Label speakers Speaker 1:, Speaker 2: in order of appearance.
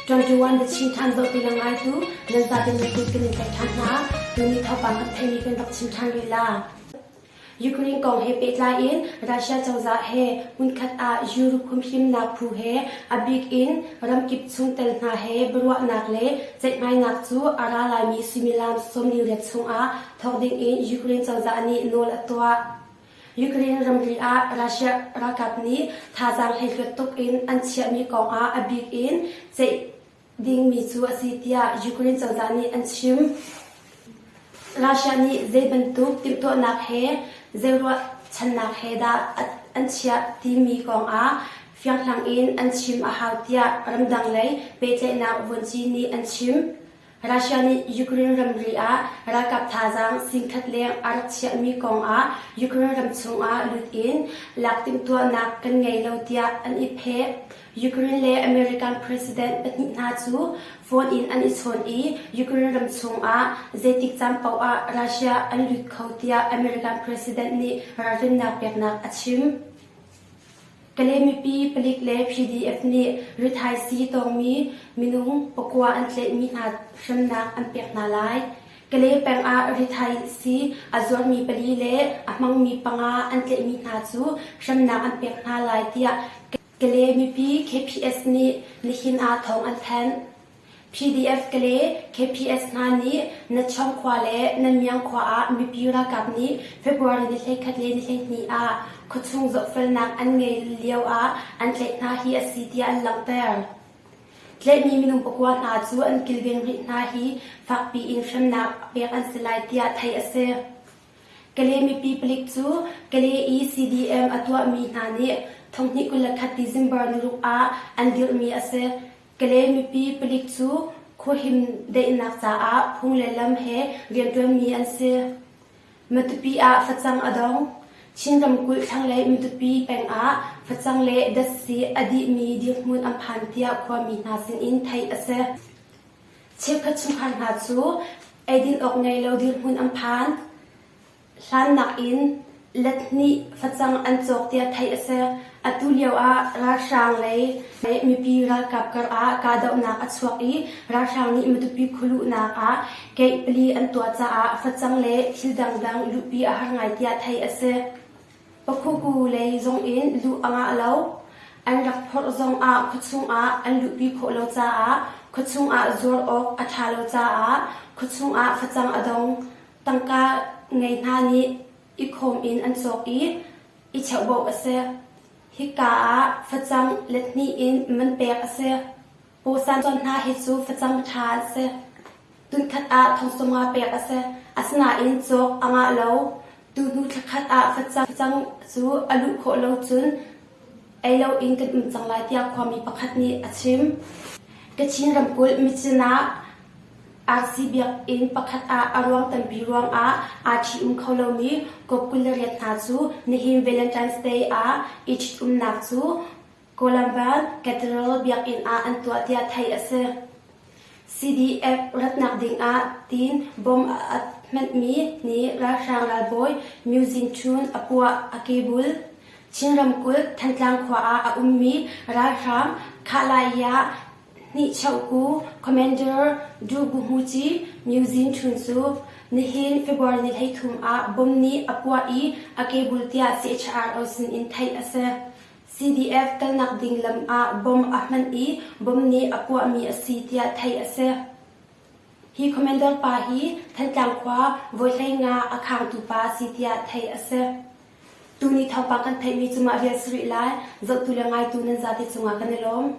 Speaker 1: 21 biachim ṭhan dawh ti le ngaitu nan zate na kut kan in tlaih ṭhan hna. Tuni thawngpang kan theihmi kan rak chim ṭhan lila. Ukraine kong he pehtlai in Russia cozah he hmunkhat ah Europe humhimnak phu he a bik in ramkip chungtel hna he biaruahnak le ceihmainak cu a ra laimi suimilam sawm li riat chungah thawk ding in Ukraine cozah nih nawl a tuah. Ukraine ramri ah Russia ralkap nih thazaang hleihluat tuk in an chiahmi kong ah a bik in ceih dingmi cu a si tiah Ukraine cozah nih an chim. Russia nih zeibantuk timhtuahnak he zei ruahchannak he dah an chiah timi kong ah fianghlang in an chim a hau tiah ramdang lei pehtlaihnak vuanci nih an chim. Russia nih Ukraine ramri ah ralkap thazaang singkhat leng a rak chiahmi kong ah Ukraine ram chungah lut in lak timhtuahnak kan ngei lo tiah an i pheh. Ukraine le American president pahnih hna cu phone in an i chawn i Ukraine ram chungah zeitik caan paoh ah Russia an lut kho tiah American president nih ralrinnak peknak a chim. Kale mipi palik le PDF nih rithaisi tawngmi minung pakua an tlaihmi hna hremnak an pek hna lai. Kale peng ah rithaisi a zuarmi pali le a hmangmi panga an tlaihmi hna cu hremnak an pek hna lai tiah Kale mipi KPS nih nihin ah thawng an thanh. PDF Kale KPS hna nih Natcham khua le Nanmyang khua ah mipi ralkap nih February ni hleikhat le ni hleihnih ah khuachung zohfelnak an ngei lio ah an tlaih hna hi a si tiah an langhter. Tlaihmi minung pakua hna cu an kilveng rih hna hi fakpi in hremnak pek an si lai tiah theih a si. Kale mipi palik cu Kale i CDM a tuahmi hna nih thonghnih kul le khat December niruk ah an dirhmi a si. Kale mipi palik cu khuahim daihnak caah phung le lam he rianṭuanmi an si. Matupi ah facang a dong. Chin ramkulh thlanglei Matupi peng ah facang le datsi a dihmi dirhmun an phan tiah khuami hna sinin theih a si. Chikkhat chungkhar hna cu eidin awk ngei lo dirhmun an phan. Hlannak in let hnih facang an cawk tiah theih a si. Atu lioah ralhrang lei mipi ralkap karah kahdohnak a chuak i ralhrang nih Matupi khualuhnak ah gate pali an tuah caah facang le thil dangdang luhpi a har ngai tiah theih a si. Pakhuku lei zongin luh a ngah lo. An rak phorh zongah khuachung ah an luhpi khawh lo caah khuachung ah zuar awk a ṭha lo caah khuachung ah facang a dong. Tangka ngei hna nih ikhawm in an cawk i i cheuhbauh a si. Hika ah facang let hnih in man pek a si. Pawsan cawn hna hi cu facang ṭha an si. Tunkhat ah thong cunga pek a si. Asinain cawk a ngah lo. Tuhnu thla khat ah facang cu a luh khawh lo cun ei loin kan um cang lai tiah khuami pakhat nih a chim. Kachin ramkulh Micin ah Arsi biakinn pakhat ah a ruang tampi ruangah aa ṭhi-um kho lomi kop kul le riat hna cu nihin Valentine's Day ah i ṭhitumnak cu Columbus Cathedral biakinn ah an tuah tiah theih a si. CDF ratnak dingah tiin bom a hmanhmi nih ralhrang ralbawi Myu Zin Chun a puah a kebul. Chin ramkulh Thantlang khua ah a ummi ralhrang Khahlaiya Hnihcheuh ku Commander Dugubuchi Myuzin Ṭhun cu nihin February ni hleithum ah bom nih a puah i a kebul tiah CHR O sin in theih a si. CDF kalnak ding lam ah bom a hman i bom nih a puahmi a si tiah theih a si. Hi Commander pa hi Thantlang khua Vawihleina a khangtu pa a si tiah theih a si. Tuni thawngpang kan theihmi cu mah vial sarih lai. Zohtu le ngaitu nan zate cungah kan i lawm.